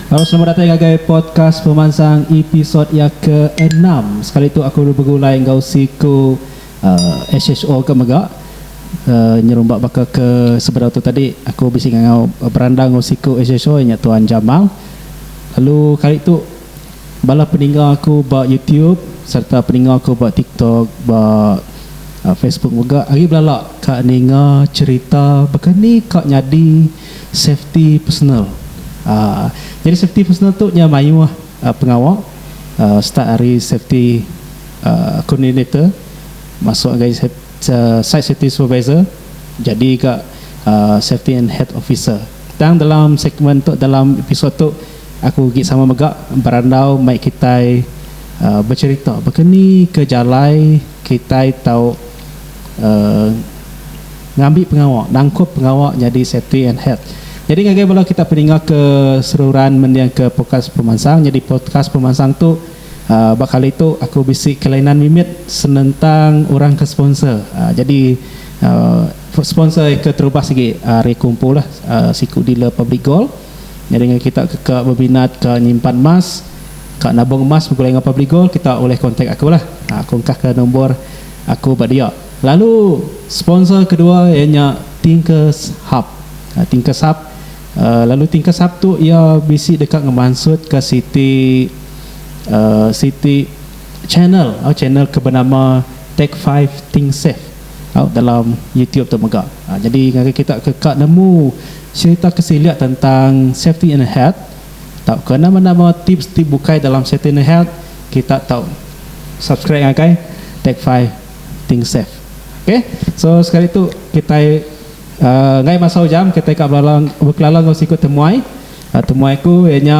Hello selamat datai ngagai podcast pemansang episode iya ke enam sekali tu aku begulai enggau siku uh, SHO ke mega uh, nyerumba baka ke sebedau tu tadi aku bisi ngau berandang enggau siku SHO nya tuan Jamang lalu kali tu Bala peninga aku ba YouTube sereta peninga aku ba TikTok ba Facebook mega agi belala ka ninga cherita baka ni ka nyadi safety personal uhh nyadi safety personal tu nya mayuh pengawa uhh start ari safety uhh coordinator masuk ngagai site safety supervisor jadi ga safety and health officer tang dalam segment tu dalam episode tu. Aku ugi sama mega berandau mai kitai becherita baka ni ke jalai kitai tau ngambi pengawa nangkup pengawa nyadi safety and health. Nyadi ngagai bala kita peninga ke seruran mendingka podcast pemansang. Nyadi podcast pemansang tu ba kali tu aku bisi kelainan mimit senentang orang ke sponsor. Jadi sponsor ke terubah sigi ari aku empu lah siku dealer Public Gold. Nyadi enggau kita ke ka beminat ka nyimpan emas, ka nabung emas begulai enggau Publigold kita ulih kontak aku lah. Aku engkah ka nombor aku ba dia. Lalu sponsor kedua iya nya Thinkers Hub. Thinkers Hub uhh lalu Thinkers Hub tu iya bisi deka ngemansut ka siti uhh siti channel uhh channel ke benama Take Five Think Safe uhh dalam YouTube tu mega. Nyadi ngagai kita ke ka nemu. Serita ke silik tentang safety in health tauka nama-nama tips ti bukai dalam safety in health kita tau subscribe ngagai Take Five Think Safe ok so sekali tu kitai enggau masau jam kitai ka belalung bekelalung enggau siku temuai temuai ku iya nya.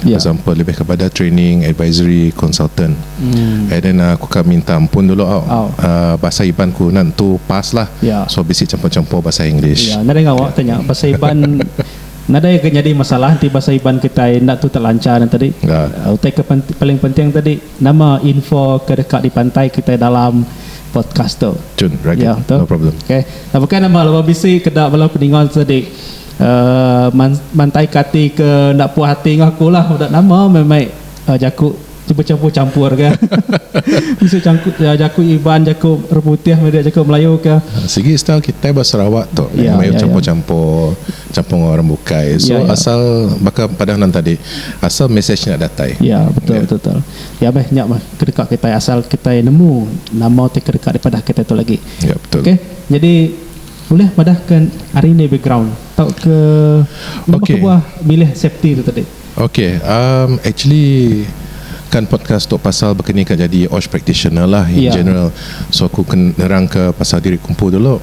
For example lebih kepada training, advisory, consultant. And then uh, aku ka minta ampun dulu au. Au. Uh, bahasa Iban ku nan tu pas lah. Ya. So bisi campur-campur bahasa English. Ya, nadai ngawa tanya bahasa Iban nadai ke nyadi masalah enti bahasa Iban kitai enda tu telanchar nya tadi. Ya. Uh, utai ke penti- paling penting tadi nama info ke deka dipantai kitai dalam podcast tu. Cun, right. Ya, betul. No problem. Okay. Nah, bukai nama laban bisi ke da bala peninga tadi. mantai ka ati ke enda puas ati enggau aku lah udah nama meh mei jaku ti becampur campur ka jaku iban jaku orang putih meda jaku melayu ka sigi style kitai ba sarawak tu melayu campur campur campur enggau orang bukai so asal baka padah nan tadi asal message nya datai iya betul betul iya meh nya meh ke deka kitai asal kitai nemu nama ti ke deka dipadah kitai tu lagi iya betul okay jadi. Ulih madahkan ari indi background tauka nama Okay. kebuah milih safety tu tadi. Okay, um, actually kan podcast tu pasal bakani ka jadi OSH practitioner lah in Ya. general. So aku ken nerangka pasal diri ku empu dulu.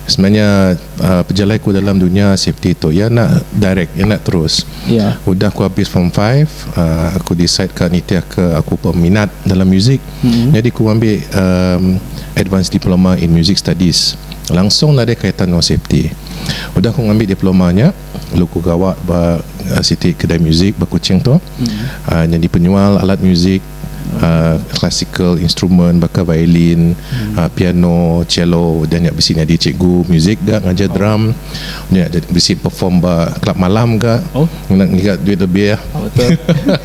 Sebenarnya uh, pejalai ku dalam dunya safety tu ya enda direct, ya enda terus. Ya. Udah aku habis form 5, uh, aku decide ka nitihka aku peminat dalam muzik. Jadi aku ambil um, advanced diploma in music studies. langsung nadai kaitan enggau safety. Udah aku ngambi diploma nya, lalu aku gawa ba siti kedai muzik ba Kuching tu uhh nyadi penyual alat muzik uhh classical instrument baka violin, uhh piano, cello. Udah nya bisi nyadi cikgu muzik ga ngajar drum. Nya bisi perform ba club malam ga ngiga duit lebih.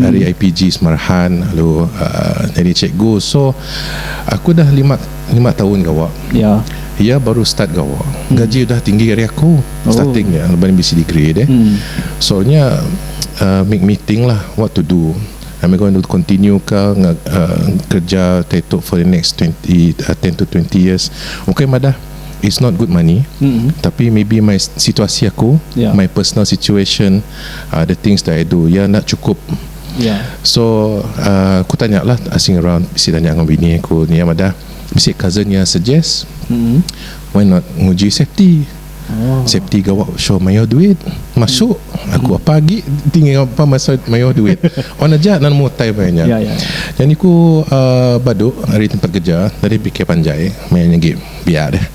ari IPG Semarahan lalu nyadi cikgu so aku dah lima lima taun gawa iya baru start gawa gaji udah tinggi ari aku starting iya laban iya bisi degree deh so nya make me think lah what to do am I going to continue kah kerja kayuh for the next twenty ten to twenty years okay madah it's not good money tapi maybe my situasi aku my personal situation uh, the things that I do ya nak cukup yeah. so uh, aku tanya lah asing around si tanya dengan bini aku ni ya madah mesti cousin yang suggest mm-hmm. why not nguji safety oh. safety gawak show mayo duit masuk mm-hmm. aku apa lagi tinggal apa masa mayo duit on aja nan mau time banyak yeah, yeah. jadi aku uh, baduk hari tempat kerja dari PK Panjai main game biar deh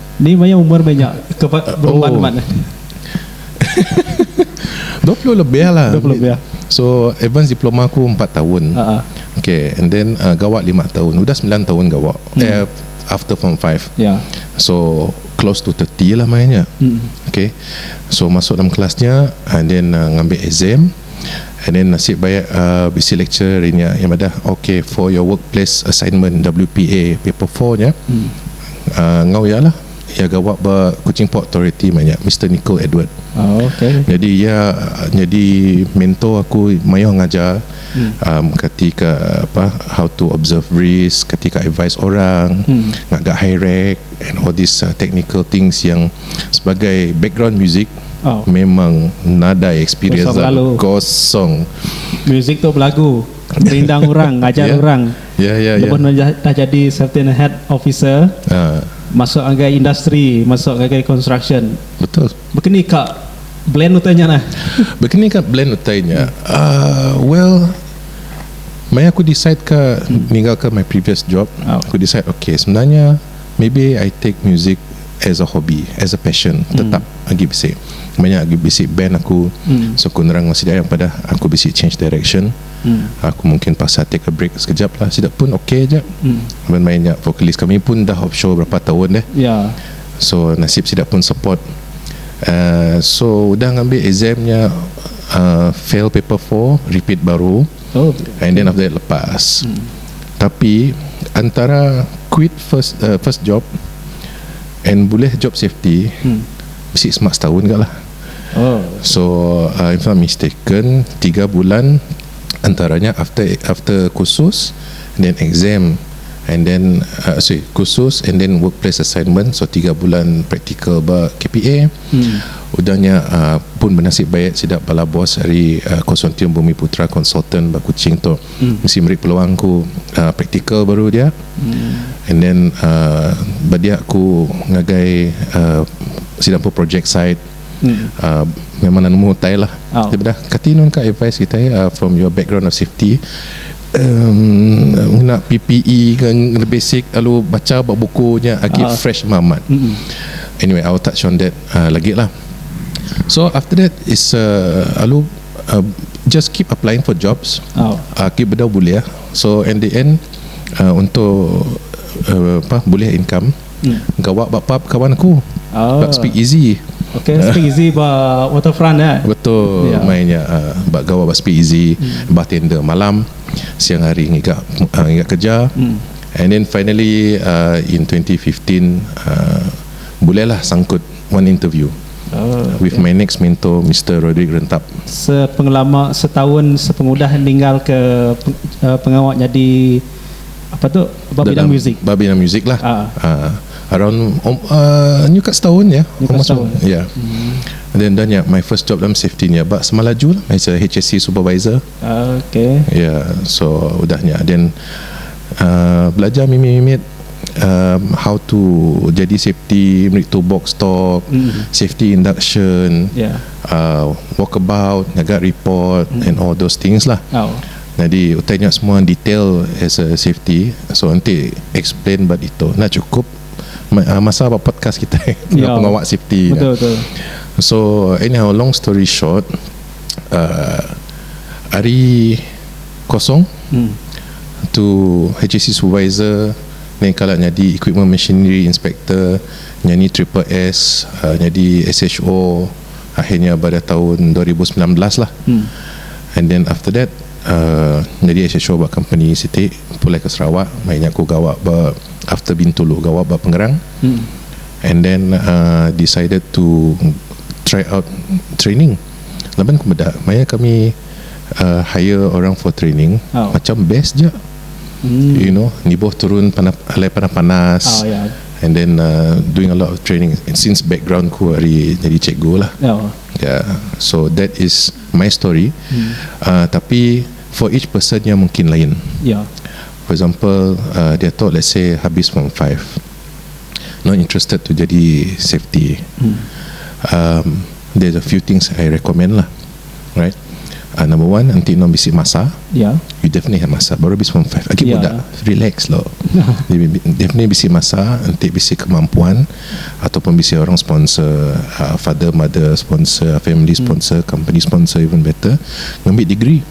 Ni maya umur meh nya ke ba berumban Oh. man. Dua puluh lebih lah. 20 lebih. So advance diploma aku empat tahun. Ha ah. Okay, and then uh, gawa lima tahun. Udah sembilan tahun gawa. Eh, after form 5. Hmm. Ya. So close to 30 lah maya nya. Hmm. Okay. So masuk dalam kelas nya and then uh, ngambi exam. And then nasib baik uh, bisi lecturer hari nya yang madah, okay for your workplace assignment WPA paper 4 nya, Hmm. enggau iya lah iya gawa ba Kuching Port Authority meh nya Mister Nicole Edward nyadi iya nyadi mentor aku mayuh ngajar kati ka apa how to observe risk kati ka advise orang ngaga high rek and all these technical things yang sebagai background music memang nadai experience kosong Ya ya ya. Lebuh nuan dah jadi Sertin Head Officer. Haa. Masuk ngagai industri, masuk ngagai construction. Betul. Bekeni ka blend utai nya nah? Bekeni ka blend utai nya? Uhh well maya aku decide ka ninggal ka my previous job, aku decide okay sebenarnya maybe I take music as a hobby, as a passion tetap agi bisi. Manya agi bisi band aku, so aku nerang bisi aja padah aku bisi change direction. Aku mungkin pasal take a break sekejap lah sida pun ok aja laban main nya vocalist kami pun dah off show berapa taun deh so nasib sida pun support uhh so udah ngambi exam nya uhh fail paper four repeat baru and then after that lepas tapi antara quit first first job and bulih job safety bisi semak setaun ga lah. So uh, if not mistaken, tiga bulan antaranya after after kursus, then exam, and then uh, sorry kursus and then workplace assignment. So tiga bulan praktikal ba KPA. Hmm. Udahnya uh, pun bernasib baik sida bala bos hari uh, konsortium Bumi Putra Consultant ba Kuching tu. Mesti meri peluang aku praktikal baru dia and then ba dia aku ngagai sida empu projek site memang enda nemu utai lah tapi dah kati nang ka advise kitai from your background of safety ngena PPE ke ngena basic lalu bacha ba buku nya agi fresh meh amat anyway I will touch on that lagi lah so after that is a lalu Just keep applying for jobs Keep bedau bulih So in the end Untuk Apa Bulih income Gawa ba pub kawan aku Ba speak easy Okay speak easy ba waterfront eh Betul main nya Ba gawa ba speak easy Bartender malam Siang hari ngiga Ngiga kerja And then finally In twenty fifteen Bulih lah sangkut One interview With my next mentor Mister Roderick Rentap. Sepengelama setaun sepengudah ninggal ke pengawa nyadi apa tu ba bidang muzik. Ba bidang muzik lah around nyu ka setaun ya almost ya. Dah nya my first job dalam safety nya ba Semalaju lah as a HSE supervisor. Iya so udah nya din belajar mimit mimit how to jadi safety meri tubok stop safety induction walk about ngaga report and all those things lah nyadi utai nya semua detail as a safety so enti explain ba ditu enda cukup masa ba podcast kitai pengawa safety nya so anyhow long story short Uh, ari kosong hmm. tu HSC supervisor ni kala nyadi equipment machinery inspector nyani triple S uh, nyadi SHO akhirnya pada tahun 2019 lah hmm. and then after that uh, nyadi SHO ba company siti pulai ke Sarawak mainnya aku gawa ba after Bintulu gawa ba Pengerang hmm. And then decided to try out training laban ku meda maya kami hire orang for training macam best ja you know nibuh turun alai panas panas and then doing a lot of training since background ku ari nyadi cikgu lah ya so that is my story tapi for each person nya mungkin lain for example diatu let's say habis form five not interested to jadi safety um there's a few things I recommend lah alright uh number one enti endang bisi masa Ya. you definitely have masa baru habis form five agi Ya. budak relax lo Dia bi- definitely bisi masa enti bisi kemampuan ataupun bisi orang sponsor uh, father mother sponsor family sponsor company sponsor even better ngambi degree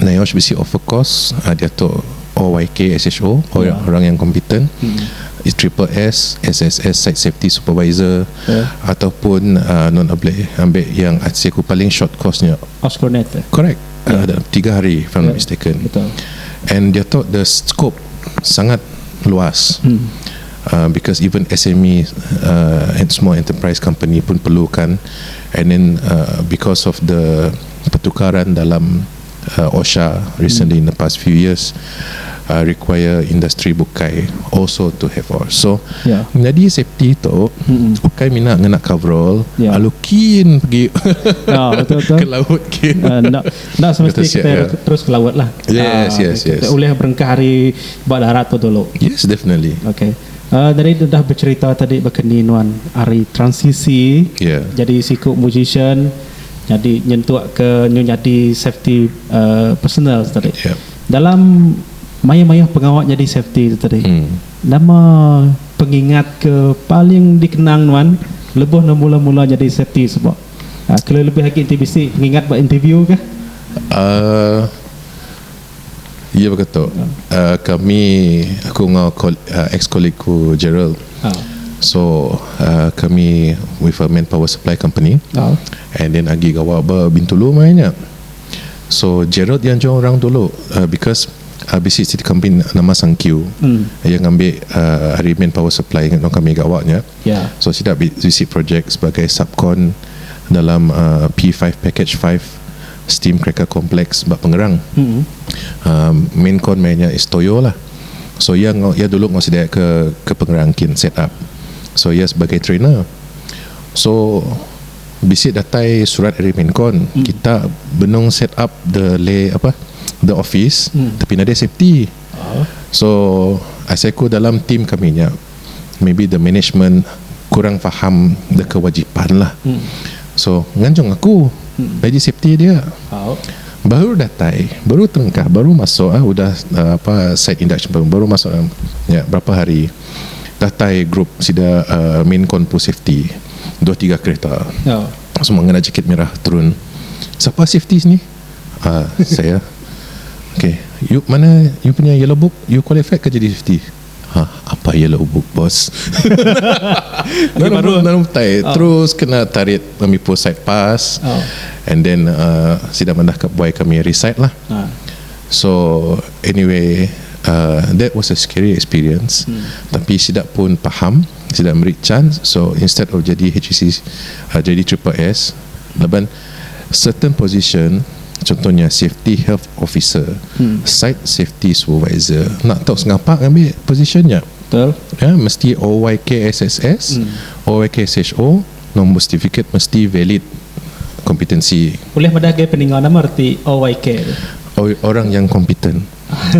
NIOSH bisi offer kos diatu OYKSHO, Orang Yang Kompeten, Triple S, SSS, Site Safety Supervisor, ataupun nuan ableh ambi yang aci aku paling short course nya. Osconet eh? Correct. Tiga hari if I'm not mistaken. And diatu the scope sangat luas because even SME, Small Enterprise Company, pun perlukan and then because of the Pertukaran dalam OSHA recently in the past few years require industri bukai also to have or so menyadi safety tu ukai mina ngena coverall lalu kin pegi ke laut kin enda semesti kita terus ke laut lah kita ulih berengkah ari ba darat tu dulu yes definitely okay tadi udah becerita tadi baka ni nuan ari transisi jadi siku musician. nyadi nyentukka nyu nyadi safety personal tu tadi dalam mayuh-mayuh pengawa nyadi safety tu tadi nama pengingat ke paling dikenang nuan lebuh nuan mula-mula nyadi safety suba kelebih-lebih agi ti bisi pengingat ba interview kah. Iya baka tu. Kami aku enggau ex colleague ku Gerald. So kami with a manpower supply company and then agi gawa ba Bintulu maya nya. So Gerald iya enjoy orang dulu because bisi siti company nama Sangkiu. Iya ngambi ari manpower supply nang kami gawa nya. So sida bisi project sebagai subcon dalam P five package five Steam cracker complex ba Pengerang. Um main kon meh nya is toyo lah. So iya enggau iya dulu enggau sedia ke ke Pengerang kin set up. So iya sebagai trainer. So bisi datai surat ari main kon kita benung set up the lay apa the office tapi nadai safety. So asai ku dalam team kami nya. maybe the management kurang faham the kewajipan lah so nganjung aku nyadi safety dia baru datai baru telengkah baru masuk ah udah apa site induction baru baru masuk dalam nya berapa hari datai group sida um main kon pu safety dua tiga kereta semua ngena jaket merah turun sapa safety sini um saya okay you mana you punya yellow book you qualified ke jadi safety Hah apai iya lalu book boss. Nang baru nang utai terus kena tarit ngambi post site pas and then uh sida mandah ka buai kami resite lah. So anyway uh that was a scary experience tapi sida pun paham sida meri chance so instead of jadi HEC uh jadi triple S laban Certain position contoh nya safety health officer, site safety supervisor enda tau sengapa ngambi position nya ya mesti OYKSSS, OYKSHO nombor certificate mesti valid competency. Ulih madah gai peninga nama reti OYK tu. Oi orang yang kompeten.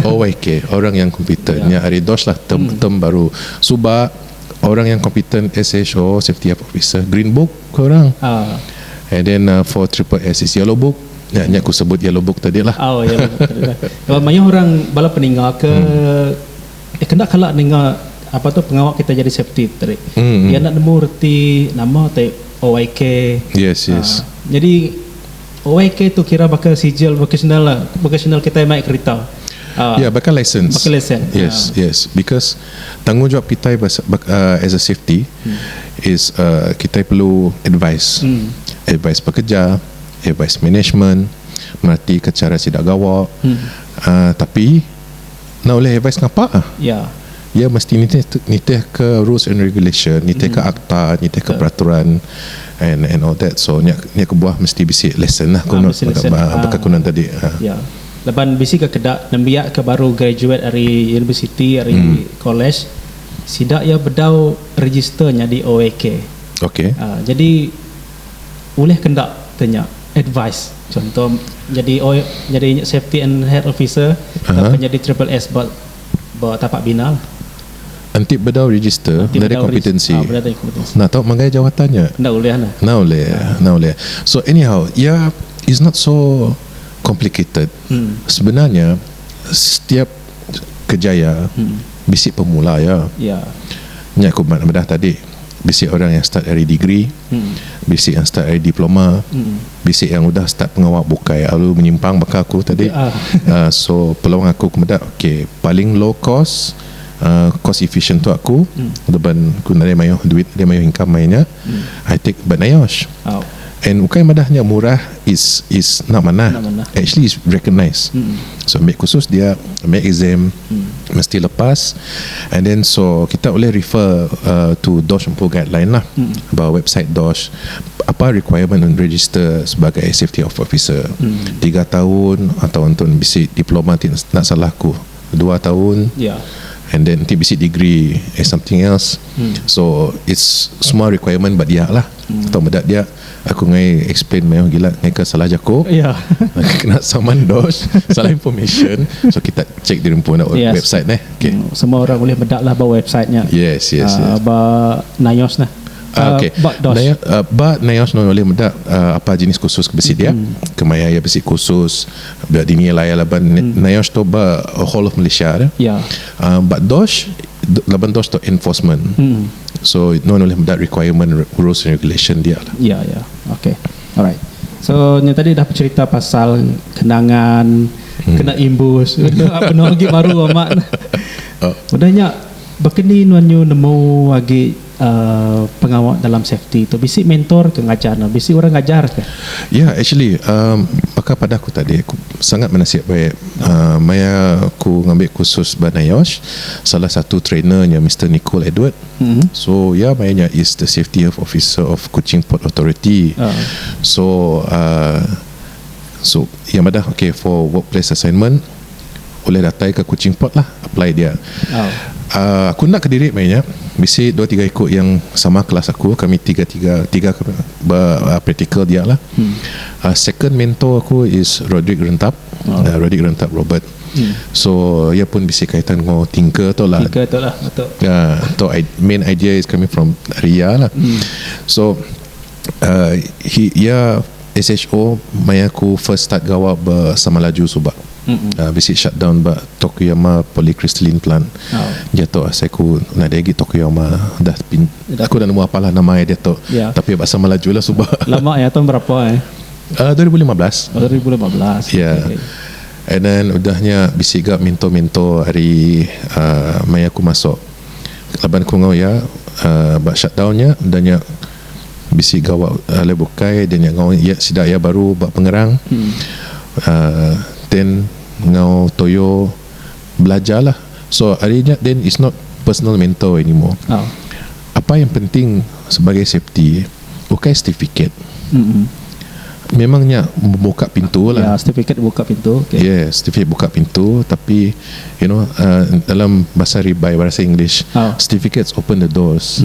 OYK orang yang kompeten nya ari dos lah term term baru suba orang yang kompeten SHO safety health officer green book. Ku orang and then for triple S is yellow book nya nya ku sebut yellow book tadi lah. Oh yellow book tadi lah. Kalau mayuh orang bala peninga ke kena kala ninga apa tu pengawa kita jadi safety tu tadi iya enda nemu reti nama ti OIK jadi OIK tu kira baka sijil vocational lah vocational kitai mai kerita baka lesen baka lesen yes yes because Tanggungjawab kitai as a safety is kitai perlu advise, advise pekerja, advise management, meratika chara sida gawa tapi enda ulih advise ngapa iya mesti nitihka rules and regulation, nitihka akta, nitihka peraturan and all that so nya kebuah mesti bisi lesen baka ku nang tadi. Laban bisi ga keda nembiak ke baru graduate ari universiti ari college sida iya bedau register nyadi OAK. Okey. Aaa jadi ulih ke enda te nya advice chunto nyadi O nyadi safety and health officer tauka nyadi triple S ba ba tapak bina lah. Enti bedau register Enti bedau register kompetensi. Aa bedau kompetensi. Nah tau manggai jawatan nya. Enda ulih nah. Enda ulih, enda ulih. So anyhow iya is not so complicated sebenar nya setiap kejaya bisi pemula iya nya aku ba meda tadi bisi orang yang start ari degree bisi yang start ari diploma bisi yang udah start pengawa bukai lalu menyimpang baka aku tadi uhh so peluang aku ku meda ok paling low cost uhh cost efficient untuk aku laban ku nadai mayuh duit nadai mayuh income maya nya. I take by NIOSH and ukai madah nya murah is is enda manah actually is recognised so ambi kursus dia ambi exam mesti lepas and then so kita ulih refer uhh to dosh empu guideline lah ba website dosh apa requirement and register sebagai safety of officer tiga taun atau ntun bisi diploma ti enda salah ku. dua taun and then enti bisi degree is something else so it's semua requirement ba dia lah tau meda dia aku ngai explain mayuh gila ngaika salah jaku kena saman dos salah information so kita check diri empu enda website neh yes yes ba nayos neh ba nayos neh ulih meda apa jenis kursus ke bisi dia kemaya iya bisi kursus. Bela dini laya laban Nayosh tu ba whole of Malaysia dah. Aaa ba Dosh laban Dosh tu enforcement. So nuan ulih meda requirement rules and regulation dia lah. Ya ya okay alright so nya tadi dah pecherita pasal kenangan kena imbus benung agi baru amat udah nya baka ni nuan nyu nemu agi pengawa dalam safety tu bisi mentor ke ngajar ne bisi orang ngajar ke. Ya actually um baka padah aku tadi aku sangat benasib baik um maya aku ngambi kursus ba NIOSH salah satu trainer nya Mister Nicole Edward so iya maya nya is the safety of officer of Kuching Port Authority so um so iya madah okay for workplace assignment ulih datai ke kuching port lah apply dia um aku enda kediri maya nya bisi dua tiga iku yang sama kelas aku kami tiga tiga tiga ke ba practical dia lah um second mentor aku is rodrick rentap rodrick rentap robert so iya pun bisi kaitan enggau thinker tu lah um tu main idea is coming from dari iya lah so Uh he iya SHO maya aku first start gawa ba Samalaju suba. Uh bisi shutdown ba Tokuyama Polycrystalline Plant. Dia tu asai aku nadai agi Tokuyama dah pin aku dah nemu apalah nama iya diatu tapi ba Samalaju lah suba. Lama iya tahun berapa eh? Uh dua ribu lima belas. Oh dua ribu lima belas. Iya. And then udah nya bisi ga mentor-mentor ari uh maya aku masuk laban aku enggau iya uh ba shutdown nya udah nya bisi gawa alai bukai dia nya enggau iya sida iya baru ba pengerang uhh then enggau toyo belajarlah so ari nya then is not personal mentor anymore apa yang penting sebagai safety ukai certificate memang nya buka pintulah yes certificate buka pintu tapi you know uhh dalam bahasa ribai bahasa english certificates open the doors.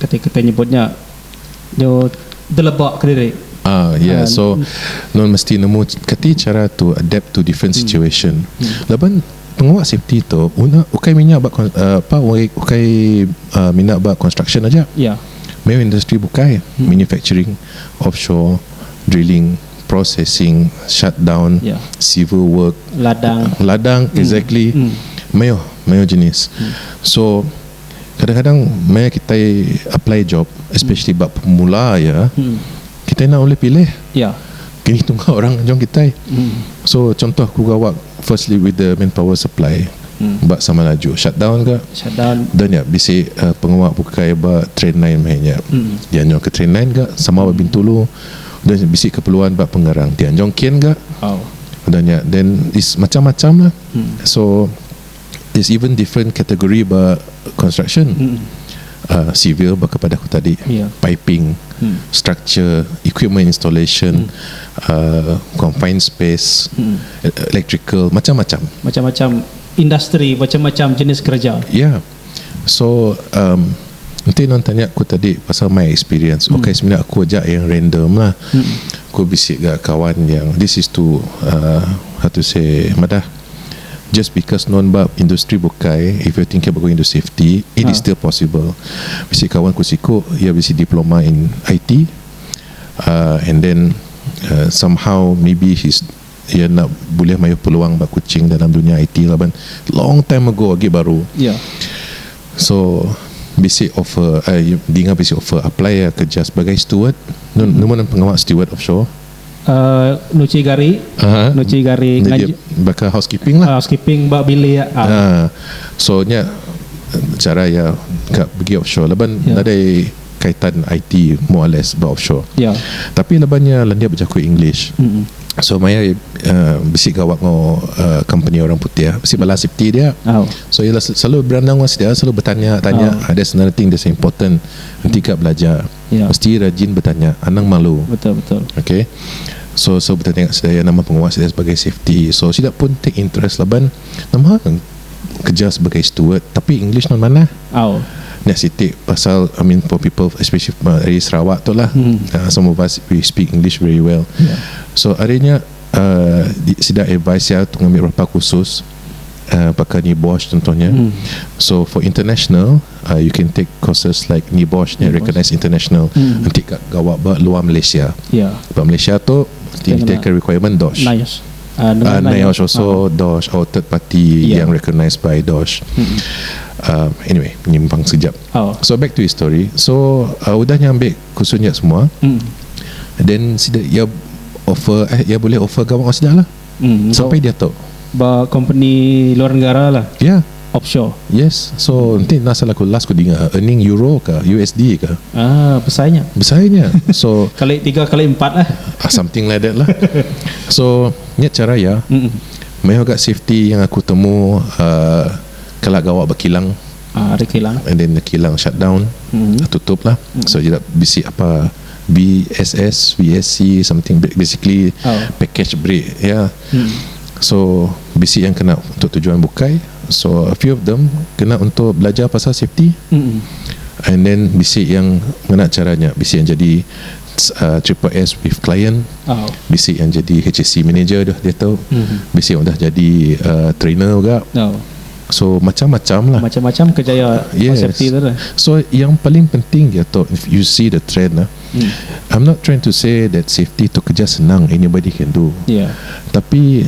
kati kitai nyebut nya nyu deleba kediri. Ah ya yeah. so nuan mesti nemu kati chara tu adapt to different situation hmm. laban pengawa safety tu una ukai minya ba uh, apa ukai uh, mina ba construction aja ya yeah. main industry bukai hmm. manufacturing offshore drilling processing shutdown yeah. civil work ladang ladang hmm. exactly hmm. mayo mayo jenis hmm. so kadang-kadang maya kitai apply job especially ba pemula aja kitai enda ulih pilih kini tungga orang ngejong kitai so contoh ku gawa firstly with the manpower supply ba sama laju shutdown ka da nya bisi pengawa bukai ba train line meh nya dia nyau ke train line ka sama ba bintulu da nya bisi keperluan ba pengarang ti anjong kin ka da nya then is macam-macam lah so. There's even different category ba construction. Uh, civil baka pada aku tadi, yeah. piping, mm. structure, equipment installation, mm. uh, confined space, mm. electrical, macam-macam. Macam-macam industri, macam-macam jenis kerja. Yeah. So, um, Nanti nang tanya aku tadi pasal my experience. Hmm. Okay, sebenarnya aku aja yang random lah. Hmm. Aku bisik gak kawan yang this is to uh, how to say madah. Just because nuan ba industri bukai, if you thinking about going to safety, it is still possible. Bisi kawan ku siku iya bisi diploma in IT uhh and then uhh somehow maybe he's iya enda bulih mayuh peluang ba Kuching dalam dunya IT laban long time ago agi baru. So bisi offer uhh dinga bisi offer apply iya kerja sebagai steward. Nemu nuan pengawa steward offshore? nuchi gari nuchi gari baka housekeeping lah housekeeping ba bilik so nya cara iya ka pegi offshore laban nadai kaitan IT more or less ba offshore tapi laban iya lendir bejaku english so maya iya bisi gawa enggau company orang putih bisi bala siti dia so iya selalu berandau enggau sida selalu betanya tanya that's another thing that's important enti ka belajar Mesti rajin betanya anang malu ok so so betanya enggak sida ya nama penguah sida sebagai safety so sida pun take interest laban nama keja sebagai steward tapi english nuan manah nya siti pasal I mean for people especially ari sarawak tu lah some of us we speak english very well so ari nya sida advice ya ngambi berapa kursus. uh, baka NIBOSH contohnya. Hmm. So for international, uh, you can take courses like NIBOSH yang recognized international. Hmm. Nanti kat gawa ba luar Malaysia. Ya. Yeah. Ba Malaysia tu kita ke requirement DOSH. NIOSH. Uh, uh, NIOSH also uh. DOSH or third party yeah. yang recognized by DOSH. Hmm. Uh, anyway, nyimpang sekejap. Oh. So back to his story. So uh, udah nyambi kusunya semua. Hmm. Then sida ya offer eh ya boleh offer gawa sida lah. Hmm, so, sampai diatu. Ba kompeni luar negara lah. Ya. Yeah. Offshore. Yes. So nanti nak salah ku last ku dinga earning euro ke USD ke. Ah, besarnya. Besarnya. So kali tiga kali empat lah. Ah, something like that lah. so nya cara ya. Mm. Meh agak safety yang aku temu uh, kelak gawa bakilang. Ari kilang. And then kilang shut down mm-hmm. tutup lah mm-hmm. so jadi bisi apa BSS VSC something basically oh. package break ya yeah. mm-hmm. so bisi yang kena untuk tujuan bukai so a few of them kena untuk belajar pasal safety mm-hmm. and then bisi yang kena caranya bisi yang jadi uh, triple S with client oh. bisi yang jadi HSC manager dah dia tahu mm-hmm. bisi yang dah jadi uh, trainer juga oh. So macam macam lah. Macam macam kejaya yes. safety tu lah. So yang paling penting dia tu if you see the trend lah. Hmm. I'm not trying to say that safety tu kerja senang anybody can do. Yeah. Tapi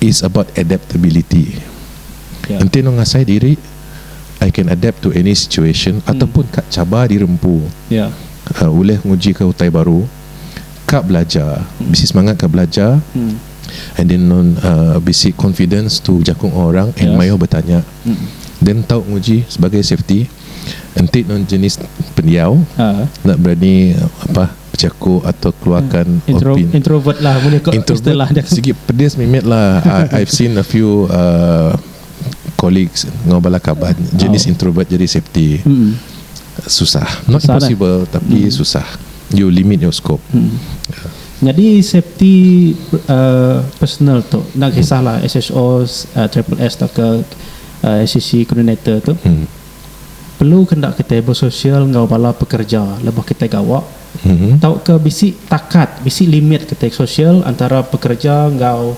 it's about adaptability. Yeah. Enti nang ngasai diri I can adapt to any situation hmm. ataupun kat cabar dirempu. Yeah. Uh, uleh nguji ke utai baru. ka belajar bisi semangat ka belajar and then non uh, bisi confidence to jaku enggau orang and mayuh betanya then tau nguji sebagai safety enti non jenis pendiau Ha. enda berani apa bejaku atau keluarkan Intro, opin introvert lah boleh ko introvert istilah dia. sigi pedis mimit lah I, I've seen a few uh, colleagues enggau bala kaban jenis introvert jadi safety susah not impossible tapi susah you limit your scope Nyadi safety personal tu enda kisah lah SHO triple S tauka SCC coordinator tu perlu ke enda kitai bersosial enggau bala pekerja lebuh kitai gawa tauka bisi takat bisi limit kitai sosial antara pekerja enggau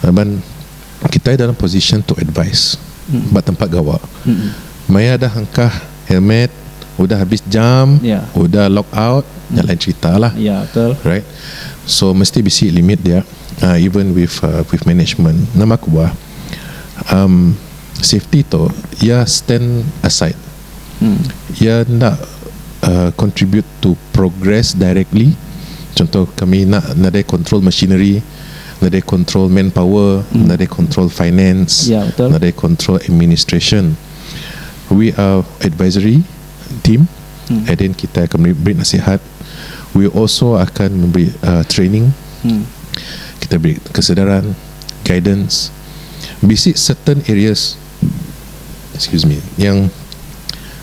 Laban kitai dalam position to advise ba tempat gawa. Maya dah engkah helmet, udah habis jam, udah log out, nya lain cerita lah. Right. So mesti bisi limit dia even with with management. Nambah kubah, safety tu iya stand aside. Iya enda contribute to progress directly contoh kami enda nadai control machinery nadai control manpower nadai control finance nadai control administration we are advisory team and then kita akan beri nasihat we also akan memberi training kita beri kesedaran guidance bisi certain areas excuse me yang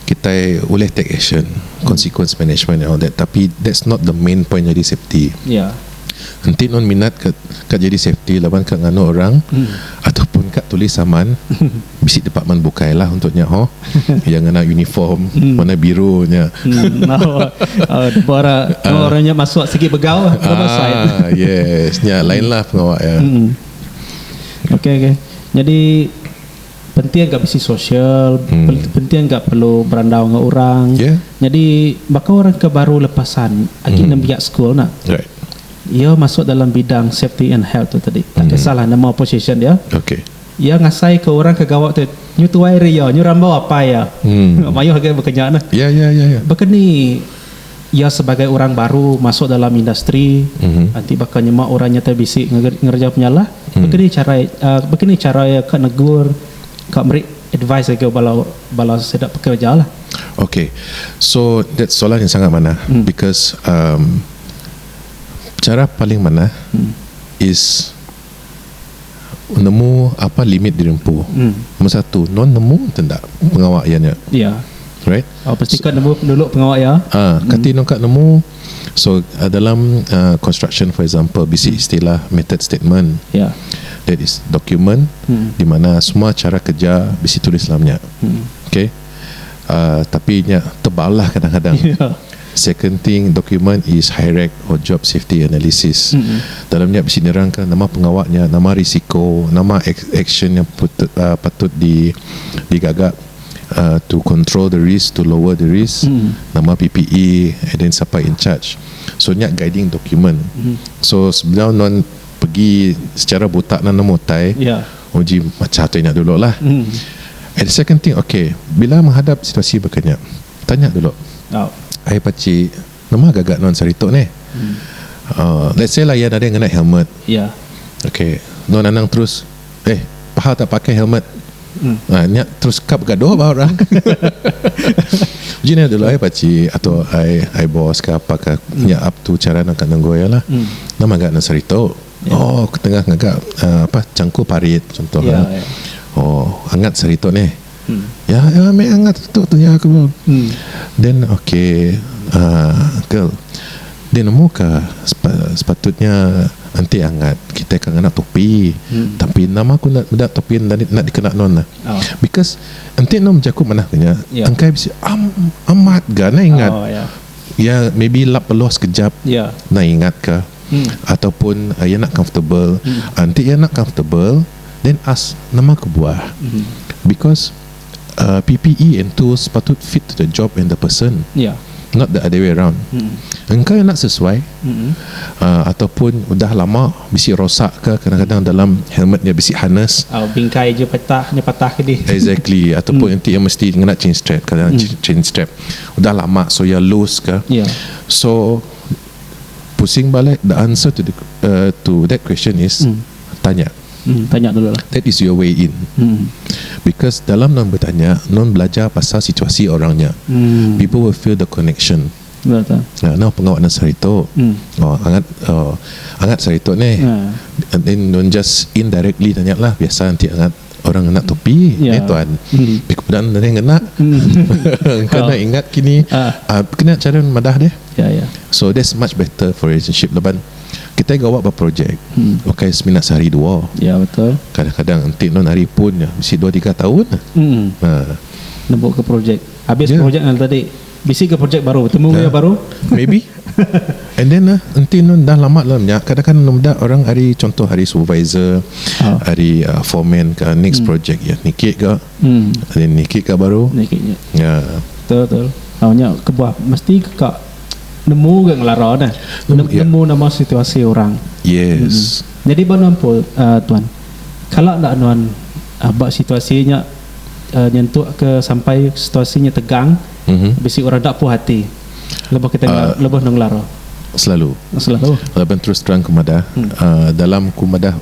kitai ulih take action consequence management and all that tapi that's not the main point jadi safety Ya. enti non minat ka, ka jadi safety laban ka nganu orang Hmm. ataupun ka tulis saman bisi department bukai lah untuk nya ho yang ngena uniform Hmm. warna biru nya Hmm. Oh, oh, bora, bora nya masuk sigi begau, bebasai. Ah, yes, nya lain lah pengawa ya. Mm. Okey okey. Nyadi penting ga bisi sosial, hmm. penting ga perlu berandau dengan orang. Yeah. Nyadi baka orang ke baru lepasan agi hmm. nembiak school nak. Right. Ia masuk dalam bidang safety and health tu tadi. Tak hmm. kisahlah nama position dia. Okey. Ia ngasai ke orang ke gawa tu nyu tuai ria, nyu rambau apa ya. Hmm. Mayuh agak berkenyak nah. Ya ya ya ya. Berkeni iya sebagai orang baru masuk dalam industri enti baka nyema orang nyata bisi ngereja penyalah baka ni chara um baka ni chara iya ka negur ka meri advise ngagai bala bala sida pekerejalah. Okay so that soalan yang sangat manah because um chara paling manah is Nemu apan limit dirempu nombor satu non nemu enti enda pengawa iya nya iya alright oh pasti ka nemu dulu pengawa iya ah kati non ka nemu so dalam construction for example bisi istilah method statement iya that is document di mana semua chara kerja bisi tulis dalam nya okay tapi nya tebal lah kadang-kadang iya. Second thing, document is HIRAC or Job Safety Analysis. Dalam nya bisi nerangka nama pengawa nya, nama risiko, nama action nya patut di digaga to control the risk, to lower the risk, nama PPE and then siapa in charge. So nya guiding document. So sebedau nuan pegi secara buta nuan nemu utai, uji macha utai nya dulu lah. And second thing, okay, bila menghadap situasi baka nya, Tanya dulu. Ai pachi nama gaga nuan sehari tu neh. Let's say lah iya nadai ngena helmet. Okay nuan anang terus eh pahal tak pakai helmet nya terus kap gaduh ba orang. Uji nya dulu ai pachi atau ai boss ka apa ka nya up to cara nang ka nenggau iya lah. Nama ga nuan sehari tu. Oh aku tengah ngaga apa changku parit contoh lah. Oh angat sehari tu neh. Iya iya meh angat tu tuya aku. Din ok uhh uncle din amu ka sepatutnya enti angat kitai ka ngena topi tapi enda mah aku meda topi enda enda dikena nuan lah because enti nuan bejaku manah ke nya engkai bisi am amat ga enda ingat iya maybe lap peluh sekejap enda ingat ka ataupun iya enda comfortable enti iya enda comfortable then ask nama kebuah because uh PPE and tools patut fit to the job and the person Ya. not the other way around engka enda sesuai uh ataupun udah lama bisi rosak ke kadang-kadang dalam helmet nya bisi harness Au bingkai je petah nya patah ke dih. Exactly ataupun enti iya mesti ngena chain strap kadang chain chain strap udah lama so iya loose ke Ya. so pusing balik the answer to the uh to that question is tanya. Hmm tanya dulu lah. That is your way in. Hmm. Because dalam nuan betanya, nuan belajar pasal situasi orang nya. Hmm. People will feel the connection. Betul. Nah, nah pengawa nang sehari tu. Hmm. Oh, angat oh, angat sehari tu nih. Hmm. And then nuan just indirectly tanya lah biasa enti angat. Orang ngena topi Ya. eh tuan. Mm. Ti ku peda nadai ngena. Engka Oh. nadai ingat kini. Ah. Ah, kena cara madah deh. Ya ya. So that's much better for relationship laban kitai gawa ba projek Hmm. bukai semina sehari dua. Ya betul. Kadang-kadang enti non ari pun nya bisi dua tiga taun. Mm. Ha. Nembuka projek. Habis Ya. projek anu tadi. Bisi ga projek baru betemu enggau iya baru. Maybe. And then ah entin nun dah lama dalam nya kadang kadang meda orang ari contoh ari supervisor ari foreman ka next project iya niki ga ari niki ga baru nya. Betul betul au nya kebuah mesti ka nemu ga ngelara dah nemu nama situasi orang. Jadi ba nuan Paul tuan kala enda nuan ba situasi nya nyentuk ke sampai situasi nya tegang bisi orang enda puh ati lebuh kita lebuh enda ngelara. Selalu. Selalu. Raban terus terang ku madah dalam ku madah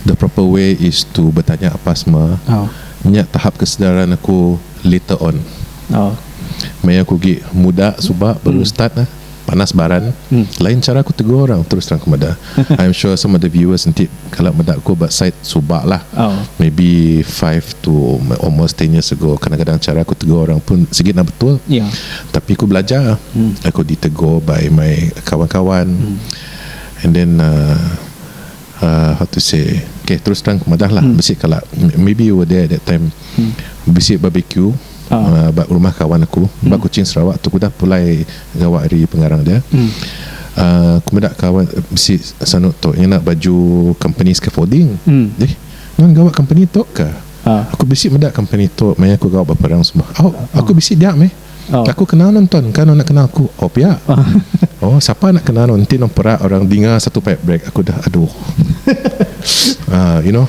the proper way is to betanya apa sema nya tahap kesedaran aku later on. Maya aku agi muda suba baru start. Panas baran. Lain chara aku tegur orang terus terang aku meda. I'm sure some of the viewers enti kala meda aku ba side suba lah. Maybe five to almost ten years ago kadang-kadang chara aku tegur orang pun sigi enda betul. Tapi aku belajar. Aku ditegur by my kawan-kawan and then uhh how to say okay terus terang aku meda lah bisi kala maybe you were there that time bisi barbecue. ba rumah kawan aku ba Kuching Sarawak tu ku udah pulai gawa ari pengarang dia um ku meda kawan bisi sanu tu ngena baju company scaffolding deh nuan gawa company tu ka aku bisi meda company tu maya aku gawa ba perang semua au aku bisi dia meh aku kenal nuan tuan ka nuan enda kenal aku oh pia oh sapa enda kenal nuan enti nuan perak orang dinga satu pipe break aku dah aduh um you know.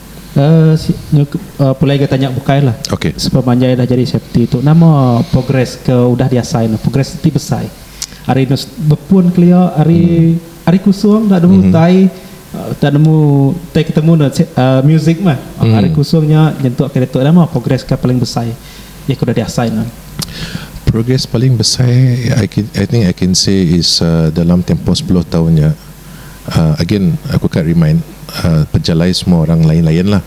Uhh pulai ga tanya bukai lah sebab panjai dah jadi safety tu nama progress ke udah di asai ne progress ti besai ari ne bepun kelia ari ari kusung enda nemu tai enda nemu tai ketemu ne uhh music meh ari kusung nya nyentuk kira nya nama progress ke paling besai iya ke udah di asai ne. Progress paling besai i can i think i can say is uhh dalam tempoh sepuluh taun nya. again aku ka remind pejalai semua orang lain lain lah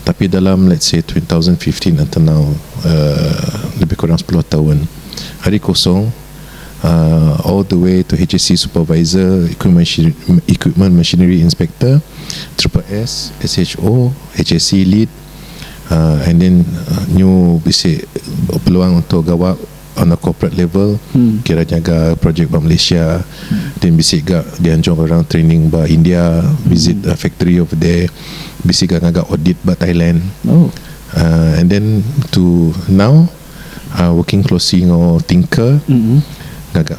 tapi dalam let's say two thousand fifteen until now lebih kurang sepuluh tahun hari kosong all the way to HSC supervisor equipment machinery inspector triple S SHO HSC lead and then nyu bisi peluang untuk gawa on a corporate level kira nyaga projek ba Malaysia then bisi ga dianjung orang training ba India visit a factory over there bisi ga ngaga audit ba Thailand uhh and then to now uhh working closely enggau thinker ngaga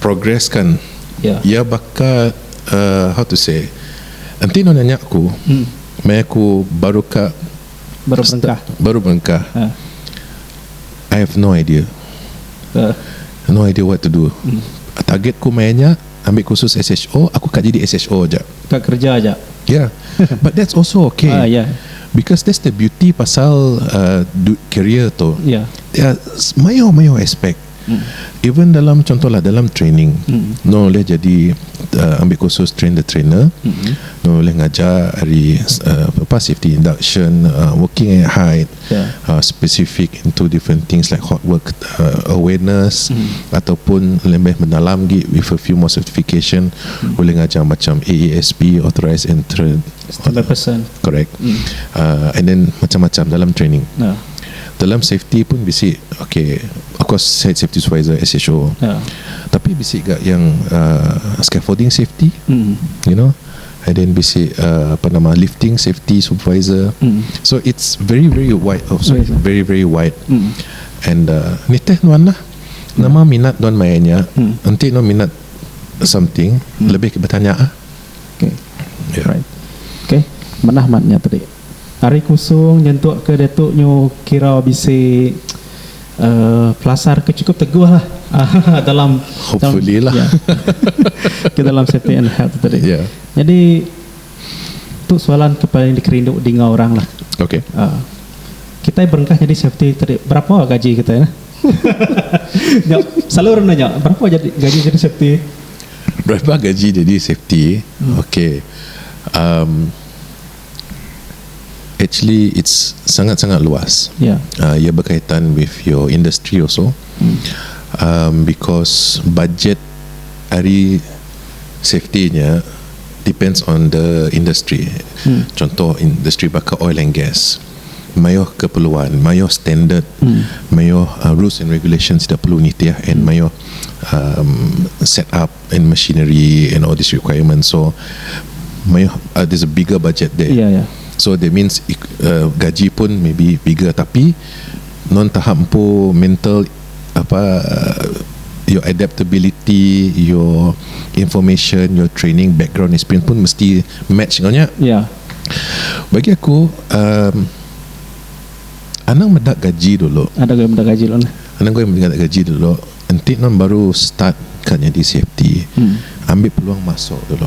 progress kan iya baka how to say enti nuan nanya aku meh aku baru ka baru berengkah I have no idea no idea what to do target ku maya nya ambi kursus SHO aku ka jadi SHO aja ya but that's also okay because that's the beauty pasal career tu mayuh mayuh aspect Even dalam contohlah dalam training nuan ulih jadi ambi kursus train the trainer nuan ulih ngajar ari apa safety induction working at height specific into different things like hot work awareness ataupun lebih mendalam agi with a few more certification ulih ngajar macam AASB authorised entrance correct and then macam-macam dalam training. Dalam safety pun bisi ok of course saya safety supervisor SHO yeah. tapi bisi ga yang uh, scaffolding safety mm. you know and then basic uh, apa nama lifting safety supervisor mm. so it's very very wide of so yes, very very wide mm. and uh, nitih nuan lah mm. nama minat nuan mainnya mm. nanti nuan minat something mm. lebih bertanya ah okay. yeah. right okay manah matnya tadi Ari Kusung nyentuk ke diatu nyu kira bisi pelasar ke cukup teguh lah dalam ke dalam safety and health tadi. Nyadi tu soalan ke paling dikerindu dinga orang lah. Kitai berengkah nyadi safety tadi berapa gaji kitai lah. Nya selalu orang nanya berapa gaji jadi safety. Berapa gaji jadi safety ok. Actually it's sangat sangat luas yeah. uh, Ia berkaitan with your industry also hmm. um, Because budget hari safety nya depends on the industry. Hmm. Contoh industri bakar oil and gas. Mayoh keperluan, mayoh standard, hmm. mayoh uh, rules and regulations tidak perlu nitih and hmm. mayoh um, set up and machinery and all this requirement so mayuh uh, there's a bigger budget there yeah, yeah. so that means uh, gaji pun maybe bigger tapi non tahap empu mental apa uh, your adaptability your information your training background experience pun mesti match kau nya yeah. bagi aku um, anang medak gaji dulu anang gue medak gaji dulu anang gue medak gaji dulu Enti nuan baru start ka nyadi safety ambi peluang masuk dulu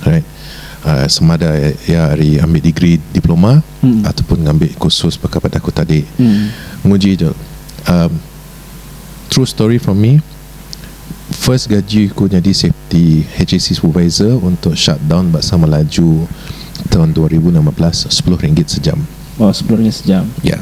alright semada iya ari ambi degree diploma ataupun ngambi kursus baka pada aku tadi nguji tu um true story from me first gaji ku nyadi safety HAC supervisor untuk shutdown ba Samalaju tahun dua ribu enam belas sepuluh ringgit sejam. Wow sepuluh ringgit sejam. Ya.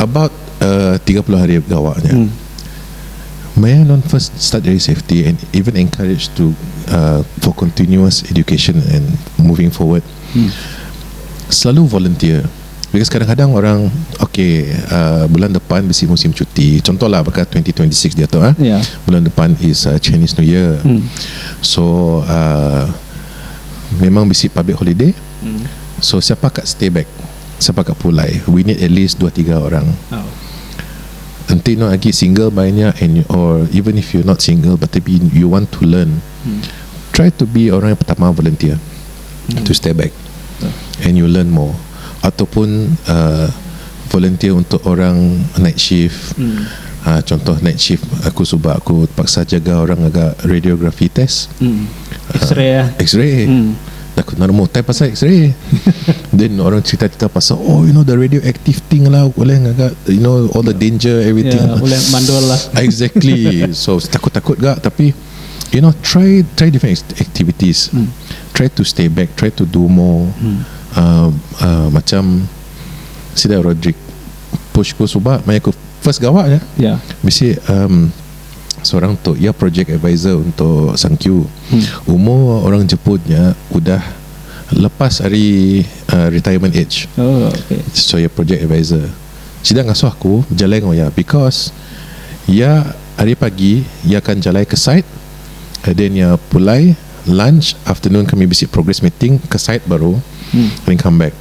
about uh, 30 hari begawa nya. Hmm. Maya non first start dari safety and even encourage to uh, for continuous education and moving forward. Hmm. Selalu volunteer. Because kadang-kadang orang okay uh, bulan depan bisi musim cuti. Contohlah baka 2026 dia tu ah. Yeah. Bulan depan is uh, Chinese New Year. Hmm. So uh, memang bisi public holiday. Hmm. So siapa kat stay back? Sapa ka pulai. We need at least dua tiga orang. Enti eno agi single by nya and or even if you not single but tapi you want to learn try to be orang yang pertama volunteer to stay back and you learn more ataupun uh volunteer untuk orang night shift uh contoh night shift aku suba aku terpaksa jaga orang ngaga radiography test X-ray Takut meh nemu time pasal x-ray then orang cerita-cerita pasal oh you know the radioactive thing lah uleh ngaga you know all the danger everything Ya, uleh mandul lah. Exactly. So takut-takut gak tapi you know try try different act- activities. Hmm. Try to stay back, try to do more. Hmm. Uh, uh, macam sida Roderick push ku suba maya ku first gawa nya. Ya. Bisi um, seorang tu iya project advisor untuk Sangkyu umur orang Jepun nya udah lepas ari uh, retirement age Oh, okey. so iya project advisor sida ngasuh aku bejalai enggau iya because iya hari pagi iya akan jalai ke site and then iya pulai lunch afternoon kami bisi progress meeting ke site baru then come back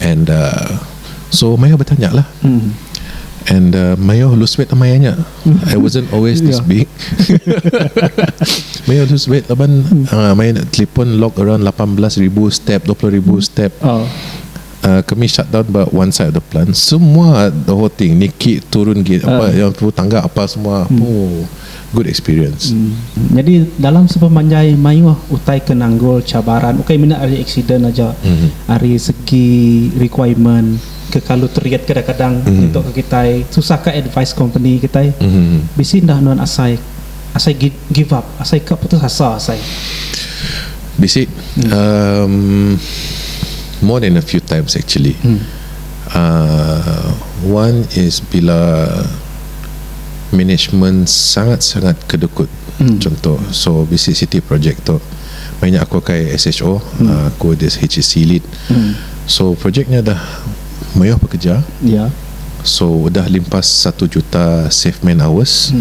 and uh, so Mayo bertanya lah and uh, Mayo lose weight amai nya I wasn't always this Yeah. big Mayo lose weight laban uh, Mayo nak telefon log around 18,000 step 20,000 step Oh. Uh, kami shut down but one side of the plant semua the whole thing Nikki turun gate apa yang tu tangga apa semua oh good experience. Nyadi dalam sepemanjai mayuh utai ke nanggul cabaran ukai mina ari aksiden aja ari segi requirement ke kalu teriet kadang-kadang nyentuk ke kitai susah ka advise company kitai bisi enda nuan asai asai give up asai ka putus asa asai. Bisi uhh more than a few times actually uhh one is bila management sangat-sangat ke dukut chunto so bisi siti projek tu meh nya aku akai SHO aku di HEC lit so projek nya dah mayuh pekeja so udah limpas satu juta safe man hours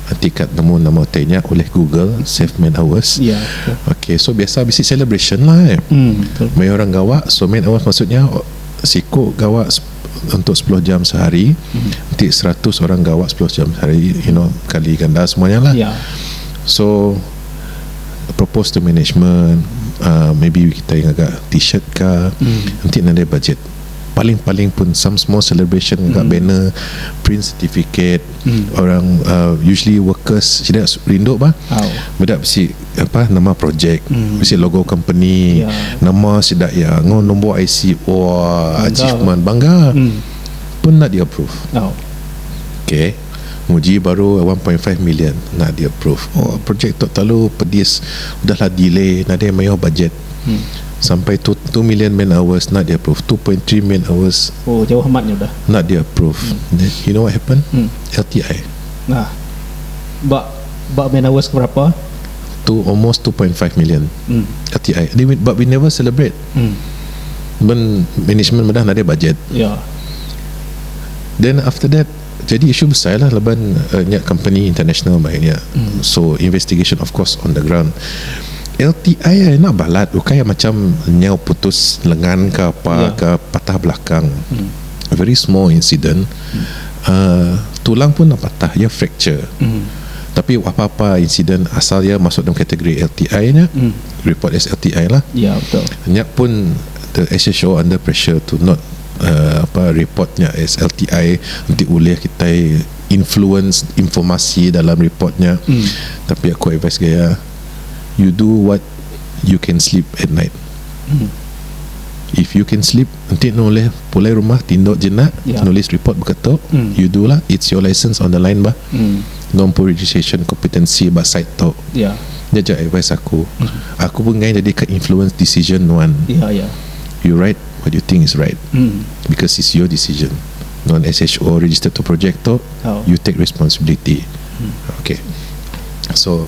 enti kad nemu nama utai nya ulih google safe man hours ok so biasa bisi celebration lah mayuh orang gawa so man hours maksud nya siku gawa untuk sepuluh jam sehari hmm. ti seratus orang gawa sepuluh jam sehari you know kali ganda semuanya lah yeah. so propose to management uh, maybe kita yang agak t-shirt ke hmm. nanti nanti budget paling-paling pun some small celebration mm. kat banner print certificate mm. orang uh, usually workers sida rindu bah oh. budak besi Apai nama projek bisi logo company nama sida iya enggau nombor IC wah achievement bangga pun enda di approve okay nguji baru one point five million enda di approve oh projek tu terlalu pedis udah lah delay nadai mayuh bajet sampai tu two million man hours enda di approve two point three man hours enda di approve you know what happen LTI ba man hours ke berapa. Tu almost two point five million kati ai but we never celebrate men management meda nadai bajet then after that jadi issue besai lah laban nya company international mai nya so investigation of course on the ground LTI ai enda balat ukai macam nyau putus lengan ka apa ka patah belakang very small incident. uhh tulang pun enda patah iya fracture tapi apa-apa insiden asal iya masuk dalam kategori LTI nya report as LTI lah nya pun the SHO under pressure to not uhh apa report nya as LTI enti ulih kitai influence informasi dalam report nya tapi aku advice ga iya you do what you can sleep at night if you can sleep Enti nuh ulih pulai rumah ti endu jenak nulis report baka tu you do lah it's your license on the line bah no empu registration competency ba site tu nya ja advice aku aku pun enggai jadi ka influence decision nuan you write what you think is right because it's your decision nuan SHO register tu project tu you take responsibility okay so.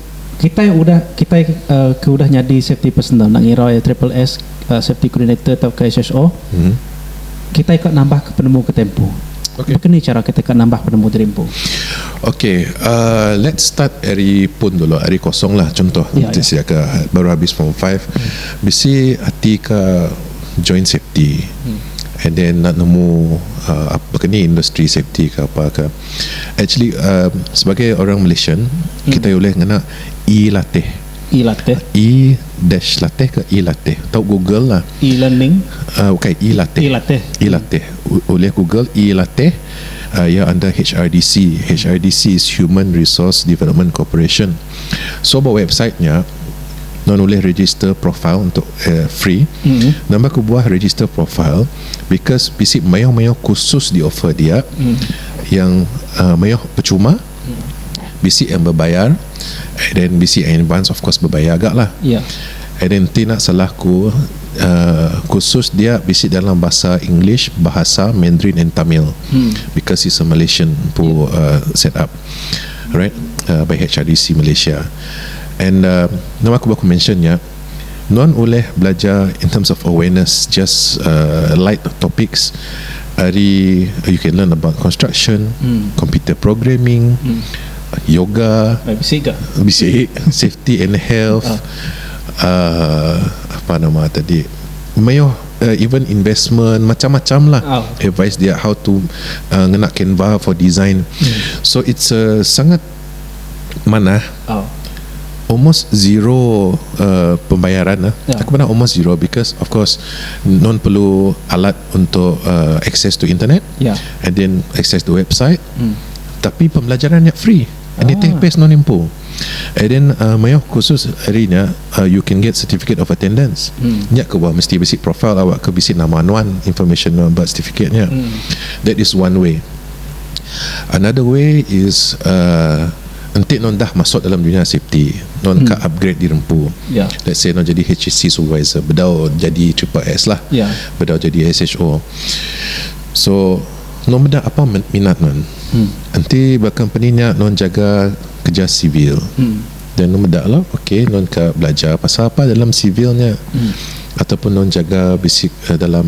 Kitai udah kitai ke udah nyadi safety personnel enda ngira iya triple S, safety coordinator tauka SSO, kitai ka nambahka penemu ke tempu. Baka ni chara kitai ka nambah penemu diri empu? Okay, let's start ari pun dulu, ari kosong lah. Chuntoh enti sida ke baru habis form five, bisi ati ka join safety and then enda nemu baka ni industri safety ka apa ka. Actually sebagai orang Malaysian kitai ulih ngena e-latih. E-latih. E dash latih ke e-latih. Tau Google lah. E-learning. Uh, okay, e-latih. E-latih. E-latih. Ulih Google e-latih. Uh, ya anda HRDC. HRDC is Human Resource Development Corporation. So ba website nya non ulih register profile untuk uh, free. Mm-hmm. Nambah ku buah register profile. because bisi mayuh-mayuh kursus di offer dia yang uh, mayuh percuma bisi yang berbayar and then bisi yang advance of course berbayar agak lah Ya. and then ti nak salah ku uh, kursus dia bisi dalam bahasa English bahasa Mandarin and Tamil because it's a Malaysian pu uh, set up right uh, by HRDC Malaysia and uh, nama aku baku mention ya Nuan ulih belajar in terms of awareness just light topics ari you can learn about construction, computer programming, yoga, bisik safety and health uhh apa nama tadi mayuh even investment macam-macam lah advice dia how to ngena canva for design so it's a sangat Manah oh. Almost zero uh, pembayaran lah. Yeah. Aku pernah almost zero because of course non perlu alat untuk uh, access to internet. Yeah. And then access to website. Mm. Tapi pembelajaran yang free. And ah. take best non impo. And then uh, mayo khusus hari ni uh, you can get certificate of attendance. Mm. Nya ke buah mesti basic profile awak ke bisi nama nuan information nuan birth certificate nya. Mm. That is one way. Another way is uh, Enti non dah masuk dalam dunia safety, non hmm. ka upgrade di rempu. Yeah. Let's say non jadi HSC supervisor, bedau jadi triple S lah. Yeah. Bedau jadi SHO. So, non benda apa minat non? Hmm. Enti ba company nya non jaga kerja sivil. Hmm. Dan non benda lah, okay, non ka belajar pasal apa dalam sivil nya. Hmm. Ataupun non jaga basic uh, dalam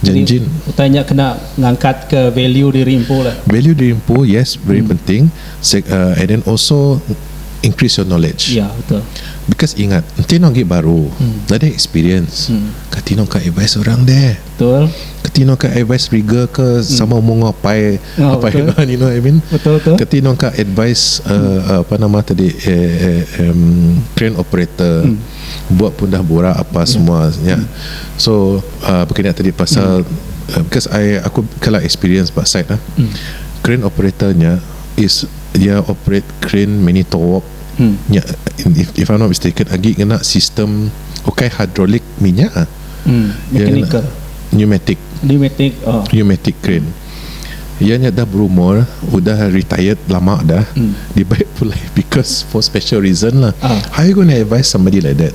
Jadi utai nya kena ngangkat ke value diri empu lah. Value diri empu yes very penting and then also increase your knowledge because ingat enti eno agi baru enda ada experience ka tino ka advice orang deh ka tino ka advice rigger ke sama umur enggau apai you know what I mean ka tino ka advice apa nama tadi crane operator buat pun dah burak apa semua nya so Uh, baka nya tadi pasal mm. uh, because I aku kala experience ba site ah. Mm. Crane operator nya is dia operate crane mini towok hmm. nya if, if I'm not mistaken agi kena sistem okay hidrolik minyak ah. Hmm. Mechanical. Pneumatic. Pneumatic. Oh. Pneumatic crane. Ia nya dah berumur, udah retired lama dah. Hmm. Dia baik pulai because for special reason lah. Ah. How you gonna advise somebody like that?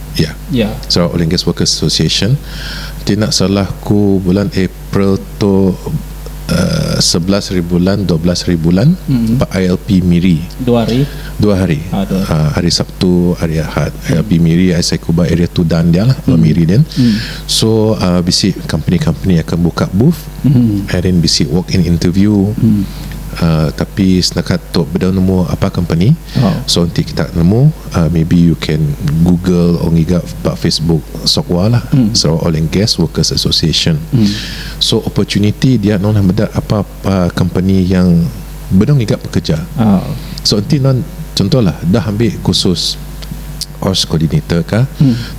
iya Sarawak Language Workers Association ti enda salah ku bulan April tu um sebelas hari bulan dua belas hari bulan ba ILP Miri dua hari dua hari um hari Sabtu hari Ahad ILP Miri ai seiku ba area Tudan dia lah ba Miri din so um bisi company company akan buka booth and then bisi walk in interview um tapi setakat tu beda nemu apa company so enti kita nemu Maybe you can google or ngiga ba facebook SOGWA lah, Sarawak Oil and Gas Workers Association. So opportunity dia nuan meda apa company yang benung ngiga pekerja. So enti nuan contoh lah dah ambi kursus ops coordinator kah,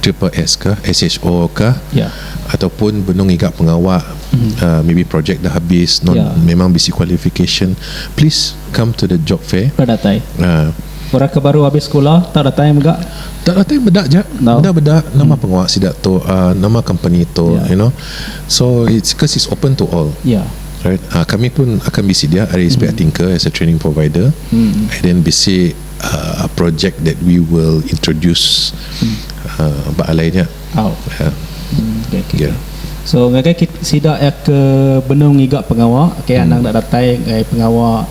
triple S kah, SHO kah ataupun benung ngiga pengawa maybe projek dah habis nuan memang bisi qualification please come to the job fair. Orang ke baru abis sekula tak datai mega. Tak datai meda ja. Meda meda nama pengawa sida tu uhh nama company tu you know. So it's cause it's open to all. Right uhh kami pun akan bisi dia ari SPIA Tinker as a training provider and then bisi uhh project that we will introduce uhh ba alai nya uhh. So ngagai sida ke benung ngiga pengawa ke anang enda datai ngagai pengawa.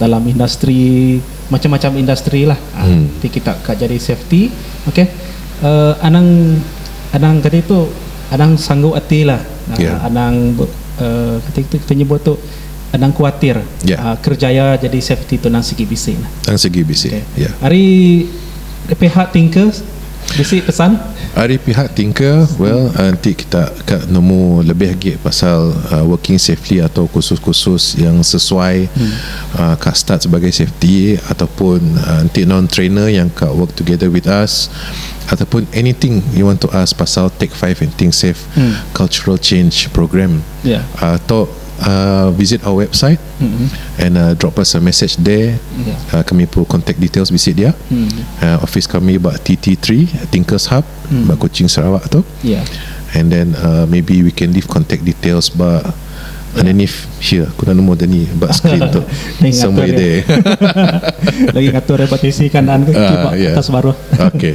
dalam industri macam-macam industri lah hmm. ti kita ka jadi safety okey uh, anang anang kata itu anang sanggup hati lah uh, yeah. anang uh, kata itu kita nyebut tu anang kuatir yeah. Ya. uh, kerjaya jadi safety tu nang segi bisi lah nang segi bisi okay. yeah. hari pihak tingkah Bisi pesan? Ari pihak Tinker, well enti kita ka nemu lebih agi pasal working safely atau kursus-kursus yang sesuai ka start sebagai safety ataupun enti non trainer yang ka work together with us ataupun anything you want to ask pasal take five and think safe cultural change program, tu visit our website. And drop us a message there kami perlu contact details bisi dia office kami ba TT three thinkers hub ba kuching sarawak tu and then maybe we can leave contact details ba underneath here ku enda nemu dia ni ba screen tu somewhere there hahaha ya okay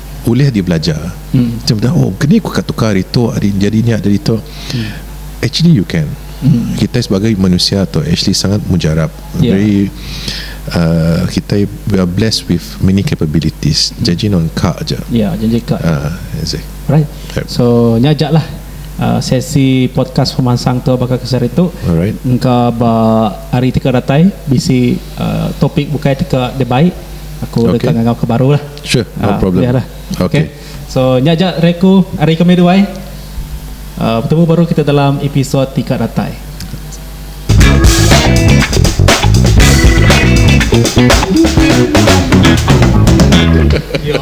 ulih dibelajar cam tu oh keni ku ka tukar ari tu ari jadi nya jadi tu actually you can kitai sebagai manusia tu actually sangat mujarab Ya. very uh, kitai we are blessed with many capabilities janji non ka aja Ya, janji ka. ah exact Alright. Yep. So nya aja lah uh, sesi podcast pemansang tu baka kesari tu. Alright. Engka ba hari ti ke datai bisi uh, topik bukai ti ke dibai Aku deka okay. ngangau ke baru lah. Sure, no uh, problem. Lah. Okay. okay. So, nya aja reku hari kami duai. Uh, bertemu baru kita dalam episod Tika Datai. Yo.